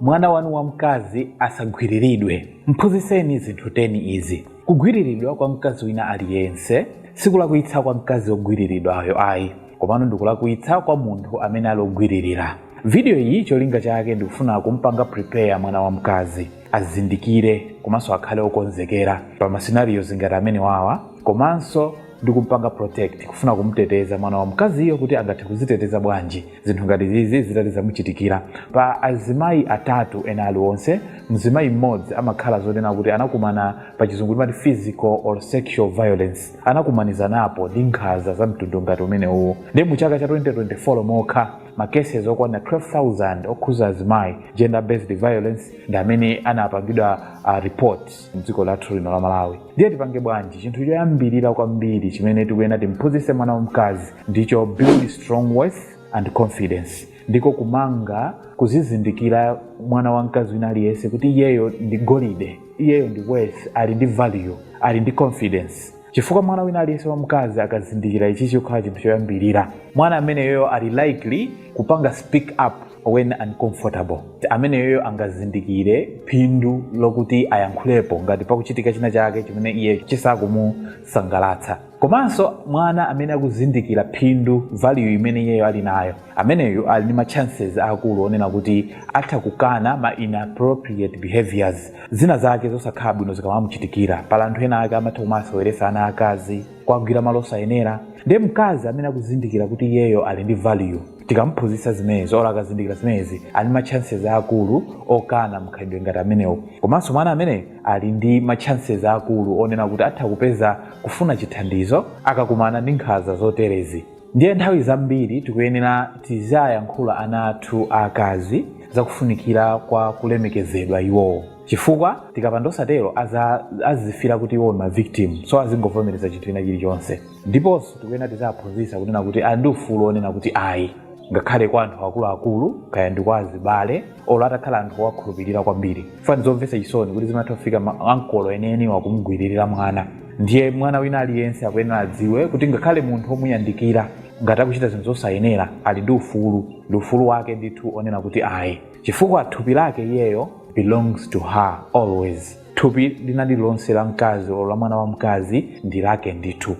Mwana wanu wamkazi asagwiriridwe. M'phunzitseni zinthu 10 izi, Kugwiriridwa kwa mkazi wina aliyense sikulakwitsa kwa mkazi wogwiriridwayo ayi, komano ndi kulakwitsa kwa munthu amene ali ogwiririra. Vidiyo iyi cholinga chake ndi kufuna kumpanga prepare mwana wamkazi azindikire komanso akhale okonzekera pa ma scenarios ngati amenewawa komanso ndi kumpanga protect kufuna kumteteza mwana wamkaziyo kuti angathe kuziteteza bwanji zinthu ngati zizi zitati zamuchitikira pa azimayi atatu ena aliwonse mzimayi mmodzi amakhala zonena kuti anakumana pa chizungu timati physical or sexual violence anakumanizanapo ndi nkhaza za mtundu ngati umene uwo ndiye mu chaka cha 2024 mokha ma cases okwana 12000 okhuza azimayi gender based violence ndi amene anapangidwa uh, report mdziko lathu lino la malawi ndiye tipange bwanji chinthu choyambirira kwambiri chimene tikuyena timphunzitse mwana wamkazi ndicho build strong worth and confidence ndiko kumanga kuzizindikira mwana wamkazi wina aliyense kuti iyeyo ndi golide iyeyo ndi worth ali ndi value ali ndi confidence chifukwa mwana wina aliyense wamkazi akazindikira ichi chokhala chinthu choyambirira mwana ameneyo ali likely kupanga speak up when uncomfortable ameneyeyo angazindikire phindu lokuti ayankhulepo ngati pakuchitika china chake chimene iye chisakumusangalatsa komanso mwana amene akuzindikira phindu value imene iyeyo ali nayo ameneyo ali ndi ma chances akulu onena kuti atha kukana ma inappropriate behaviors zina zake zosakhala bwino zikamamuchitikira pali anthu ena ake amatha kumawaseweresa ana akazi kuwagwira malo osayenera ndiye mkazi amene akuzindikira kuti iyeyo ali ndi value tikamuphunzitsa zimenezi olo akazindikira zimenezi ali ma chances akulu okana mkhalidwe ngati amenewo komanso mwana ameneyo ali ndi ma chances akulu onena kuti atha kupeza kufuna chithandizo akakumana ndi nkhanza zoterezi ndiye nthawi zambiri tikuyenera tiziayankhula ana athu aakazi zakufunikira kwa kulemekezedwa iwowo chifukwa tikapanda osatero aza- azifira kuti iwo ndi ma victim so azingovomereza chinthu china chilichonse ndiponso tikuyena tiziaphunzisa kunena kuti ali ndi ufulu onena kuti ayi ngakhale kwa anthu akuluakulu kaya ndi kwa azibale olo atakhala anthu owakhulupirira kwambiri chifukwa ndi zomvesa chisoni kuti zimatha kufika ma- ankolo enieniwa kumgwiririra mwana ndiye mwana wina aliyense akuyenera adziwe kuti ngakhale munthu omuyandikira ngati akuchita zinthu zosayenera ali ndi ufulu ndi ufulu wake ndithu onena kuti ayi chifukwa thupi lake iyeyo belongs to her always Thupi lina lilonse la mkazi olo la mwana wamkazi ndi lake ndithu.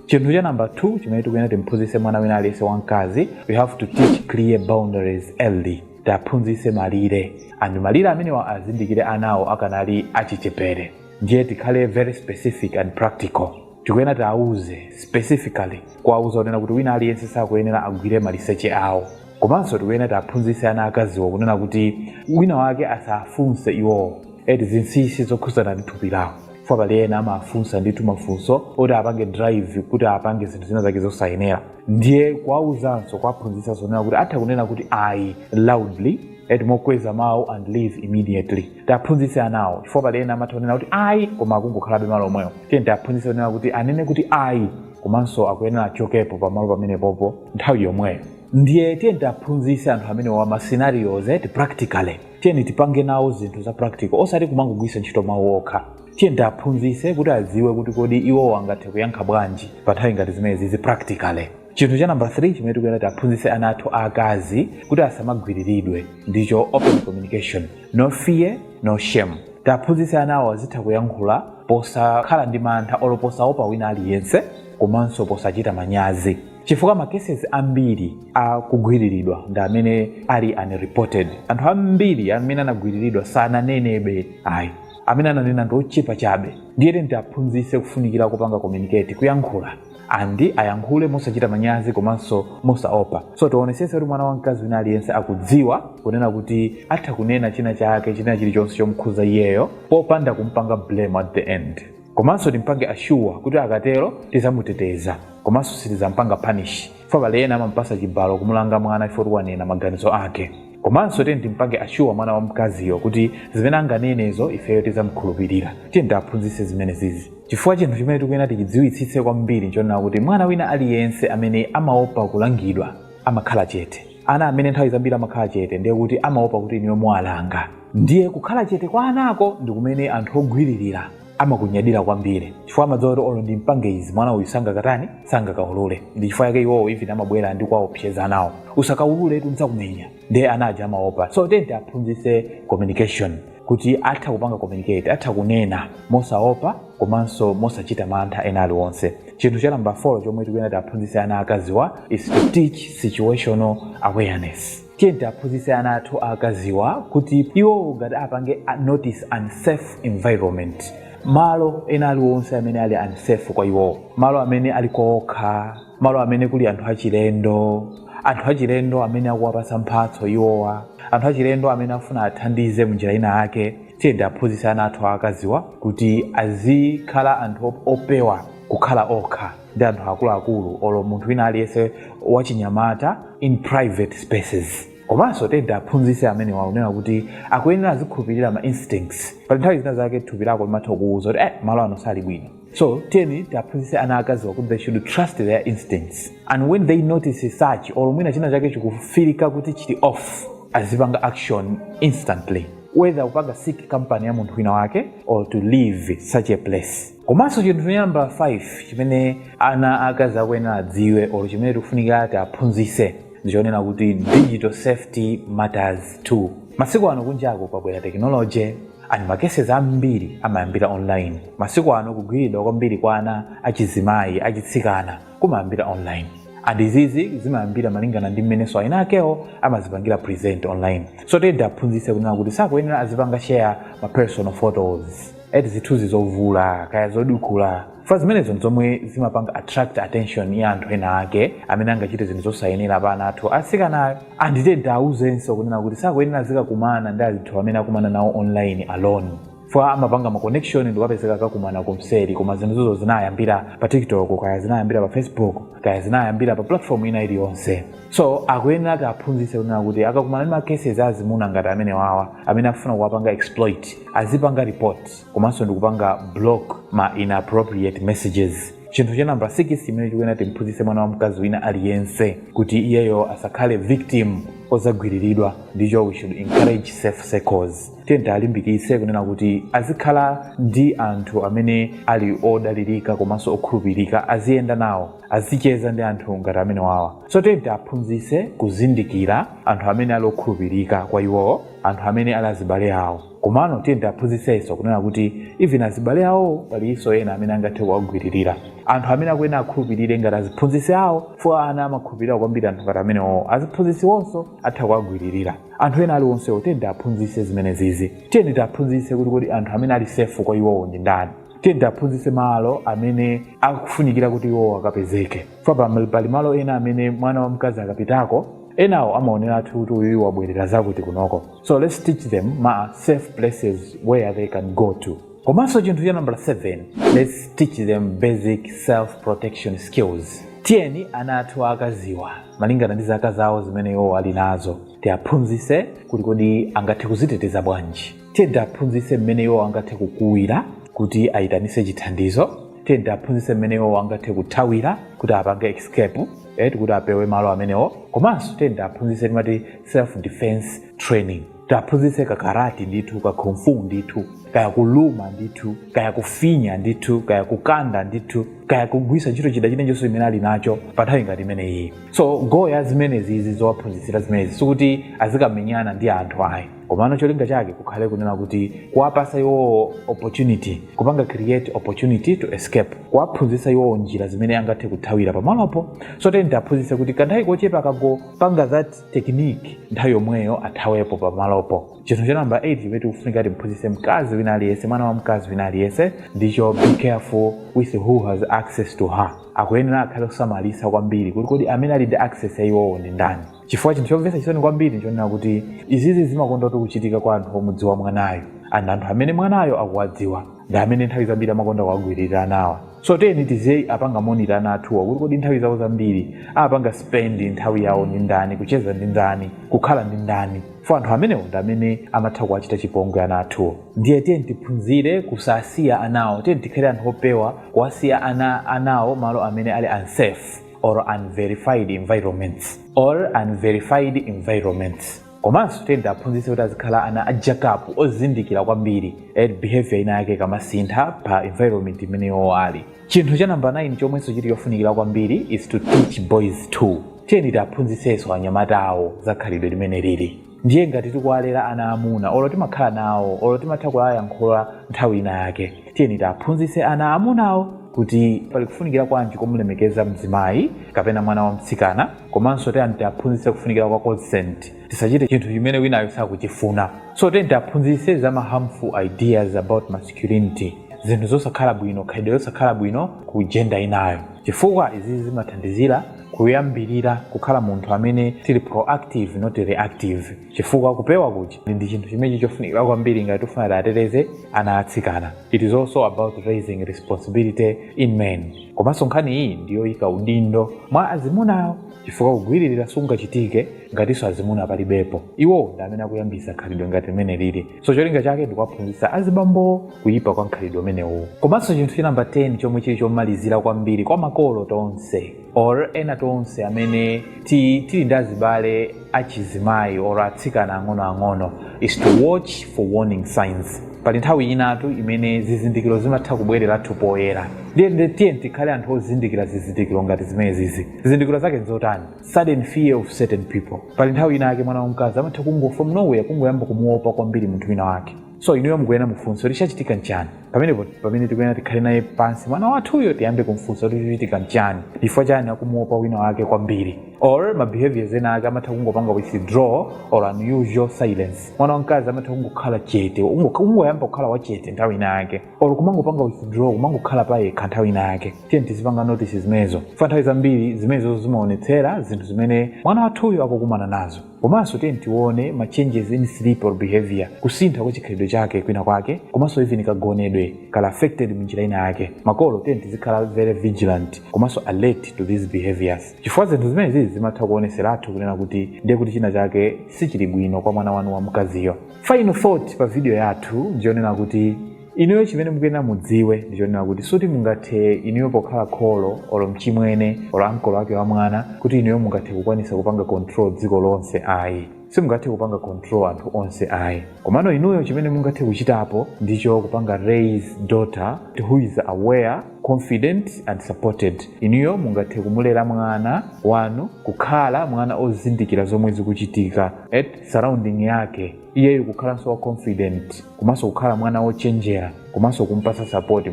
chinthu cha namba 2 chimene tikuyenera timphunzitse mwana wina aliyense wamkazi we have to teach clear boundaries early tiaphunzitse malire and malire amenewa azindikire anawo akanali achichepere ndiye tikhale very specific and practical tikuyenera tiauze specifically kuwauza kunena kuti wina aliyense sakuyenera agwire maliseche awo komanso tikuyenera tiaphunzitse ana akaziwo kunena kuti wina wake asafunse iwowo eti zinsinsi zokhudzana ndi thupi lawo chifukwa pali ena amafunsa ndithu mafunso oti apange drive kuti apange zinthu zina zake zosayenera ndiye kuwauzanso kuwaphunzitsanso kunena kuti atha kunena kuti ayi loudly eti mokweza mawu and leave immediately tiaphunzitse anawo chifukwa pali ena amatha kunena kuti ayi koma akungokhalabe malo omwewo tiye tiaphunzitse kunena kuti anene kuti ayi komanso akuyenera achokepo pamalo pamenepopo nthawi yomweyo ndiye tiye tiaphunzitse anthu amenewa ma scenarios eti practically tiyeni tipange nawo zinthu za practical osati kumangogwiritsa ntchito mawu okha tiye tiaphunzitse kuti adziwe kuti kodi iwowo angathe kuyankha bwanji pa nthawi ngati zimenezizi practically chinthu cha namba 3 chimene tikuyenera tiaphunzitse ana athu aakazi kuti asamagwiriridwe ndicho open communication no fear no shame tiaphunzitse anawo azitha kuyankhula posakhala ndi mantha olo posaopa wina aliyense komanso posachita manyazi chifukwa ma cases ambiri a kugwiriridwa ndi amene ali unreported anthu ambiri amene anagwiriridwa sananenebe ayi amene ananena ndi ochepa chabe ndiye tiyeni tiaphunzitse kufunikira kupanga communicate kuyankhula and ayankhule mosachita manyazi komanso mosaopa so tionesese kuti mwana wamkazi wina aliyense akudziwa kunena kuti atha kunena china chake china chilichonse chomukhuza iyeyo popanda kumpanga blame at the end komanso timpange assure kuti akatero tizamuteteza komanso sitizampanga punish chifukwa pali ena amampasa chibalo kumulanga mwana chifukwa choti wanena maganizo ake komanso tiyeni timpange assure mwana wamkaziyo kuti zimene anganenezo ifeyo tidzamkhulupirira tiyeni tiaphunzitse zimenezizi chifukwa chinthu chimene tikuyenera tichidziwitsitse kwambiri nchonena kuti mwana wina aliyense amene amaopa kulangidwa amakhala chete ana amene nthawi zambiri amakhala chete ndiye kuti amaopa kuti inuyo muwalanga ndiye kukhala chete kwa anako ndi kumene anthu ogwiririra amakunyadira kwambiri chifukwa amadziwa kuti olo ndimpange izi mwana uyu sangakatani sangakaulule ndi chifukwa yake iwowo even amabwera ndi kuwaopseza anawo usakaulule tidzakumenya ndiye ana aja amaopa so tiyeni tiaphunzitse communication kuti atha kupanga communicate atha kunena mosaopa komanso mosachita mantha ena aliwonse chinthu cha namba 4 chomwe tikuyenera tiaphunzitse ana akaziwa is to teach situational awareness Tiyeni tiaphunzitse ana athu aakaziwa kuti iwowo ngati apange notice unsafe environment, malo ena aliwonse amene ali unsafe kwa iwowo, malo amene ali kokha, malo amene kuli anthu achilendo, anthu achilendo amene akuwapatsa mphatso iwowa, anthu achilendo amene akufuna athandize munjira ina yake, tiyeni tiaphunzitse ana athu aakaziwa kuti azikhala anthu opewa kukhala okha. ndi anthu akuluakulu olo munthu wina aliyense wachinyamata in private spaces komanso tiyeni tiaphunzitse amenewa kunena kuti akuyenera azikhulupirira ma instincts pali nthawi zina zake thupi lako limatha kukuwuza kuti malo ano sali bwino so tiyeni tiaphunzitse ana akaziwa kuti they should trust their instincts and when they notice such or mwina china chake chikufilika kuti chili off azipanga action instantly whether kupanga seek company ya munthu wina wake or to leave such a place komanso chinthu cha namba 5 chimene ana akazi akuyenera adziwe olo chimene tikufunika tiaphunzise ndichonena kuti digital safety matters too masiku ano kunjako kwabwera technology and ma cases ambiri amayambira online masiku ano kugwiridwa kwambiri kwa ana achizimayi achitsikana kumayambira online and izizi zimayambira malingana ndi mmenenso ana akaziwo amazipangira present online so tiyeni tiaphunzise kunena kuti sakuyenera azipanga share ma personal photos zithunzi zovula kaya zodukula fukwa zimenezo nzomwe zimapanga attract attention ya anthu ena ake amene angachite zinthu zosayenera pa ana athu atsikanawo and tiyeni tiauzenso kunena kuti sakuyenera azikakumana ndi anthu amene akumana nawo online alone fukwa amapanga ma connection ndikapezeka akakumana kumseri koma zinthuzo zinayambira pa tiktok kaya zinayambira pa facebook kaya zinayambira pa platform ina iliyonse so tikuyenera tiaphunzitse kunena kuti akakumana ndi ma cases azimuna ngati amenewawa amene afuna kuwapanga exploit azipanga report komanso ndikupanga block ma inappropriate messages chinthu cha namba 6 chimene tikuyenera timphunzitse mwana wa mkazi wina aliyense kuti iyeyo asakhale victim ozagwiriridwa ndicho we should encourage safe circles tiyeni tialimbikitse kunena kuti azikhala ndi anthu amene ali odalirika komanso okhulupirika aziyenda nawo azicheza ndi anthu ngati amenewawa so tiyeni tiaphunzitse kuzindikira anthu amene ali okhulupirika kwa iwowo anthu amene ali azibale awo komano tiyeni tiaphunzisenso kunena kuti even azibale awowo palinso ena amene angathe kuwagwiririra anthu amene akuyenera akhulupirire ngati aziphunzitsi awo chifukwa ana amakhulupirira kwambiri anthu ngati amenewowo aziphunzitsiwonso atha kuwagwiririra anthu ena aliwonsewo tiyeni tiaphunzitse zimenezizi tiyeni tiaphunzitse kuti kodi anthu amene ali safe kwa iwowo ndi ndani tiyeni tiaphunzitse malo amene akufunikira kuti iwowo akapezeke fukwa pali malo ena amene mwana wamkazi akapitako enawo amaoneratu kuti uyuyu wabwerera zakuti kunoko so let's teach them ma safe places where they can go to komanso chinthu cha namba 7 let's teach them basic self protection skills tiyeni ana athu akaziwa malingana ndi zaka zawo zimene iwo ali nazo tiaphunzise kuti kodi angathe kuziteteza bwanji tiye tiaphunzitse mmene iwo angathe kukuwira kuti ayitanise chithandizo tiye tiaphunzitse mmene iwo angathe kuthawira kuti apange escape eti kuti apewe malo amenewo komanso tiye tiaphunzitse timati self defense training tiaphunzitse kakarati ndithu ka kung fu ndithu kaya kuluma ndithu kaya kufinya ndithu kaya kukanda ndithu kaya kugwisa ntchito chida chinachonse chimene ali nacho pa nthawi ngati imene iyi so goal ya zimenezi izi zowaphunzitsira zimenezi sikuti azikamenyana ndi anthu ayi komano cholinga chake kukhale kunena kuti kuwapasa iwowo opportunity kupanga create opportunity to escape kuwaphunzitsa iwowo njira zimene angathe kuthawira pamalopo so teni tiaphunzitse kuti kanthawi kochepa akangopanga that technique nthawi yomweyo athawepo pamalopo chinthu cha namba 8 chimene tikufunika timphunzitse mkazi wina aliyense mwana wamkazi wina aliyense ndicho be careful with who has access to her akuyenera akhale osamalitsa kwambiri kuti kodi amene ali ndi access ya iwowo ndi ndani chifukwa chinthu chomvetsa chisoni kwambiri nchonena kuti izizi zimakonda kuti kuchitika kwa anthu omudziwa mwanayo and anthu amene mwanayo akuwadziwa ndi amene nthawi zambiri amakonda kuwagwiririra anawa so tiyeni tiziwapanga monitor ana athuwa kuti kodi nthawi zawo zambiri amapanga spend nthawi yawo ndi ndani kucheza ndi ndani kukhala ndi ndani fo anthu amenewo ndi amene amatha kuwachita chipongwe ana athuwo ndiye tiyeni tiphunzire kusasiya anawo tiyeni tikhale anthu opewa kuwasiya anawo malo amene ali unsafe or unverified environments or unverified environments komanso tiyeni tiaphunzitse kuti azikhala ana a jack up ozindikira kwambiri ed behavior ina yake ikamasintha pa environment imene iwo ali chinthu cha namba 9 chomwenso chili chofunikira kwambiri is to teach boys too tiyeni tiaphunzitsenso anyamatawo za khalidwe limene lili ndiye ngati tikuwalera ana amuna olo timakhala nawo olo timatha kuwayankhula nthawi ina yake tiyeni tiaphunzitse ana amunawo kuti pali kufunikira kwanji kumulemekeza mzimayi kapena mwana wamtsikana komanso tiyeni tiaphunzitse kufunikira kwa consent tisachite chinthu chimene winayo sakuchifuna so tiyeni tiaphunzitse za ma harmful ideas about masculinity zinthu zosakhala bwino khalidwe losakhala bwino ku gender inayo chifukwa izi zimathandizira kuyambirira kukhala munthu amene tili proactive not reactive chifukwa kupewa kuja ndi chinthu chimene chili chofunikira kwambiri ngati tifuna tiateteze ana atsikana it is also about raising responsibility in men komanso nkhani iyi ndiyoyika udindo mwa azimunawo chifukwa kugwiririra sikungachitike ngatinso azimuna palibepo iwowo ndi amene akuyambisa khalidwe ngati limene lili so cholinga chake ndikuwaphunzitsa azibambo kuyipa kwa mkhalidwe umenewu komanso chinthu cha namba 10 chomwe chili chomalizira kwambiri kwa makolo tonse or ena tonse amene tili ndi azibale achizimayi or atsikana ang'onoang'ono is to watch for warning signs pali nthawi inatu imene zizindikiro zimatha kubwererathu poyera ndiye tiyeni tikhale anthu ozindikira zizindikiro ngati zimenezizi zizindikiro zake nzotani sudden fear of certain people pali nthawi ina yake mwana wamkazi amatha kungo from nowhere kungoyamba kumuopa kwambiri munthu wina wake so inuyo mukuyenera mumfunse kuti chachitika nchani pamenepo pamene tikuyenera tikhale naye pansi mwana wathuyo tiyambe kumfunsa kuti chachitika nchani chifukwa chani akumuopa wina wake kwambiri or ma behaviors ena ake amatha kungopanga withdraw or unusual silence mwana wamkazi amatha kungokhala chete ungo- ungoyamba kukhala wachete nthawi ina yake or kumangopanga withdraw kumangokhala pa yekha nthawi ina yake tiyeni tizipanga notice zimenezo chifukwa nthawi zambiri zimenezo zimaonetsera zinthu zimene mwana wathuyo akukumana nazo komanso tiyeni tione ma changes in sleep or behavior kusintha kwa chikhalidwe chake kwina kwake komanso even kagonedwe kakhala affected munjira ina yake makolo tiyeni tizikhala very vigilant komanso alert to these behaviors chifukwa zinthu zimenezi zimatha kuoneseratu kunena kuti ndiye kuti china chake sichili bwino kwa mwana wanu wamkaziyo final thought pa video yathu ndiyonena kuti inuyo chimene mukuyenera mudziwe ndichonena kuti suti mungathe inuyo pokhala kholo olo mchimwene olo ankolo ake wa mwana kuti inuyo mungathe kukwanisa kupanga control dziko lonse ayi simungathe kupanga control anthu onse ayi komano inuyo chimene mungathe kuchitapo ndicho kupanga raise daughter who is aware confident and supported inuyo mungathe kumulera mwana wanu kukhala mwana ozindikira zomwe zikuchitika at surrounding yake iyeyo kukhalanso wa confident komanso kukhala mwana wochenjera komanso kumpasa sapoti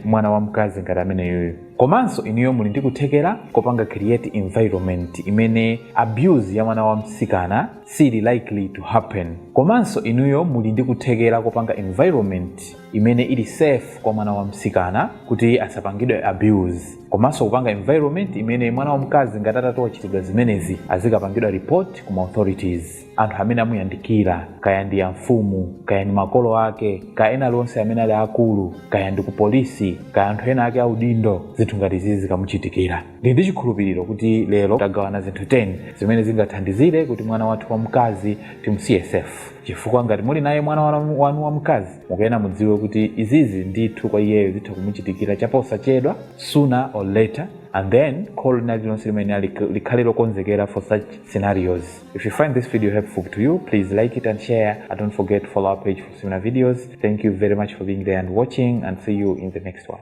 mwana wamkazi ngati ameneyoyo komanso inuyo muli ndi kuthekera kopanga create environment imene abuse ya mwana wamsikana siili likely to happen komanso inuyo muli ndi kuthekera kopanga environment imene ili safe kwa mwana wamsikana kuti asapangidwe abuse komanso kupanga environment imene mwana wamkazi ngati atatowachitidwa zimenezi azikapangidwa report ku ma authorities anthu amene amuyandikira kaya ndi amfumu kaya ndi makolo ake kaya ena alionse amene ali akulu kaya ndi ku polisi kaya anthu ena ake audindo zinthu ngati zizi zikamuchitikira ndili ndi chikhulupiriro kuti lero tagawana zinthu 10 zimene zingathandizire kuti mwana wathu wamkazi timusiye safe chifukwa ngati muli naye mwana wanu wamkazi mukuyena mudziwe kuti izizi ndithu kwa iyeyo zitha kumuchitikira chaposachedwa sooner or later and then kholo lina lililonse limayenera likhale lokonzekera for such scenarios if you find this video helpful to you please like it and share and don't forget to follow our page for similar videos thank you very much for being there and watching and see you in the next one